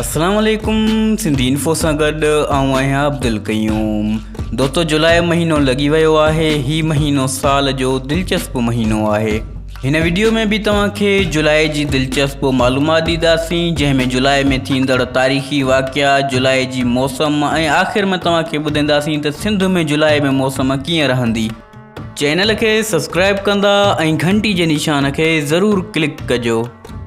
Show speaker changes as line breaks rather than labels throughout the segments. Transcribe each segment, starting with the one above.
اسلام عليڪم سنڌي انفو سان گڏ آئون آهيان عبدالقيوم دوستو جولاء مهينو لڳي ويو آهي هي مهينو سال جو دلچسپ مهينو آهي هن ويڊيو ۾ به توهان کي جولاء جي دلچسپ معلومات ڏينداسين جنهن ۾ جولاء ۾ ٿيندڙ تاريخي واقعا جولاء جي موسم ۽ آخر ۾ توهان کي ٻڌينداسين ته سنڌ ۾ جولاء ۾ موسم ڪيئن رهندي چينل کي سبسڪرائب ڪندا ۽ گهنٽي جي نشان کي ضرور ڪلڪ ڪجو.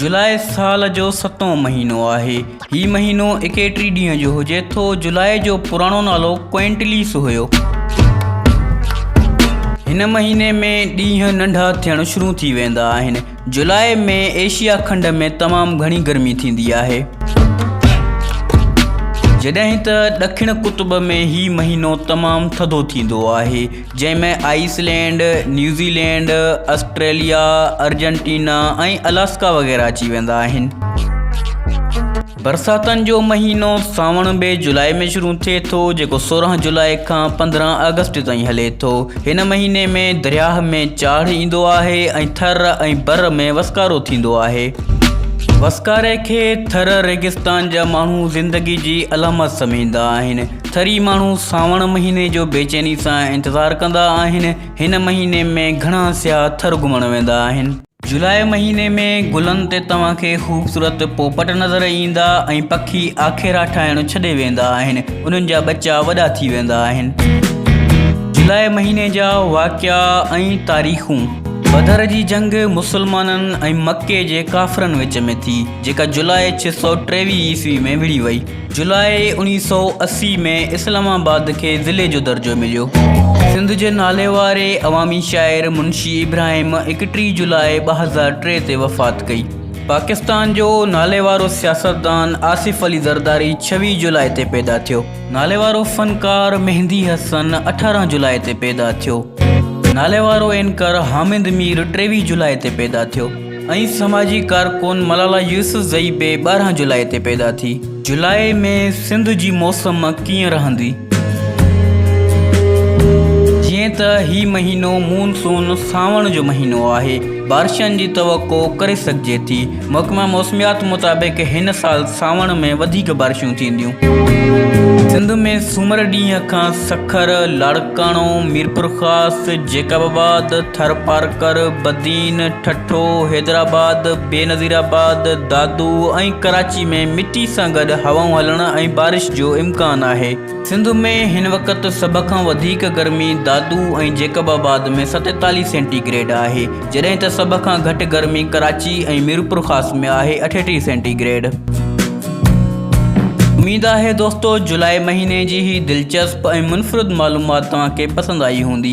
جولاء سال جو ستون مهينو آهي. هي مهينو ايڪيٽري ڏينهن جو هجي ٿو. جولاء جو پراڻو نالو ڪوئنٽليس هيو. هن مهيني ۾ ڏينهن ننڍا ٿيڻ شروع ٿي ويندا آهن. جولاء ۾ ايشيا کنڊ ۾ تمام گهڻي گرمي ٿيندي آهي جڏهن ته ڏکڻ قطب ۾ هي مهينو تمام ٿڌو ٿيندو آهي جنهن ۾ Iceland New Zealand Australia Argentina ۽ Alaska وغيره اچي ويندا آهن برساتن جو مهينو سانوڻ ٻئي جولاء ۾ شروع ٿئي ٿو جيڪو سورهن جولاء کان پندرهن آگسٽ تائين هلي ٿو. هن مهيني ۾ درياهه ۾ چاڙهه ايندو آهي ۽ ٿر ۽ بر ۾ وسڪارو ٿيندو آهي. وسڪاري کي ٿر ريگستان جا ماڻهو زندگي جي علامت سمجهندا آهن. ٿري ماڻهو سانوڻ مهيني جو بيچيني سان انتظار ڪندا آهن. هن مهيني ۾ گهڻا سياح ٿر گهمڻ ويندا آهن. جولاء مهيني ۾ گلن تي توهان کي خوبصورت پوپٽ نظر ايندا ۽ پکي آکيرا ٺاهڻ ڇڏي ويندا آهن انهن جا ٻچا وڏا ٿي ويندا آهن جولاء مهيني جا واقعا ۽ تاريخون بدر جي جنگ مسلمانن ۽ مڪي جي ڪافرن وچ ۾ ٿي جيڪا جولاء 623 عيسوي ۾ وڙهي وئي جولاء اوڻيهه سؤ اسي ۾ اسلام آباد کي ضلعي جو درجو مليو. سنڌ جي ناليواري عوامي شاعر منشي ابراهيم ايڪٽيهه جولاء ٻه هزار ٽي تي وفات ڪئي. پاڪستان جو ناليوارو سياستدان آصف علي زرداري ڇويهه جولاء تي پيدا ٿيو. ناليوارو فنڪار مهندي حسن اٺارهن جولاء تي پيدا ٿيو. ناليوارو اينڪر حامد مير ٽيويهه جولاء تي پيدا ٿيو. ۽ سماجي ڪارڪن ملالا يوسفزئي به ٻارهن جولاء تي پيدا ٿي. جولاء ۾ سنڌ جي موسم ڪيئن رهندي؟ جيئن ته هي مهينو مون سون، سانوڻ، جو مهينو آهي، بارشن جي توقع ڪري سگهجي ٿي. محڪمه موسميات مطابق هن سال سانوڻ ۾ وڌيڪ بارشون ٿينديون. سنڌ ۾ سومر ڏينهن کان سکر، لاڙڪاڻو، ميرپورخاص، جيڪب آباد، ٿرپارڪر، بدين، ٺٽو، حيدرآباد، بينظير آباد، دادو ۽ ڪراچي ۾ مٽي سان گڏ هوائون هلڻ ۽ بارش جو امڪان آهي. سنڌ ۾ هن وقت سڀ کان وڌيڪ گرمي دادو ۽ جيڪب آباد ۾ ستيتاليهه سينٽي گريڊ آهي، جڏهن ته سڀ کان گهٽ گرمي ڪراچي ۽ ميرپورخاص ۾ آهي اٺيٽيهه سينٽي گريڊ. اميد آهي دوستو جولاء مهيني جي هي دلچسپ ۽ منفرد معلومات توهان کي پسند آئي هوندي.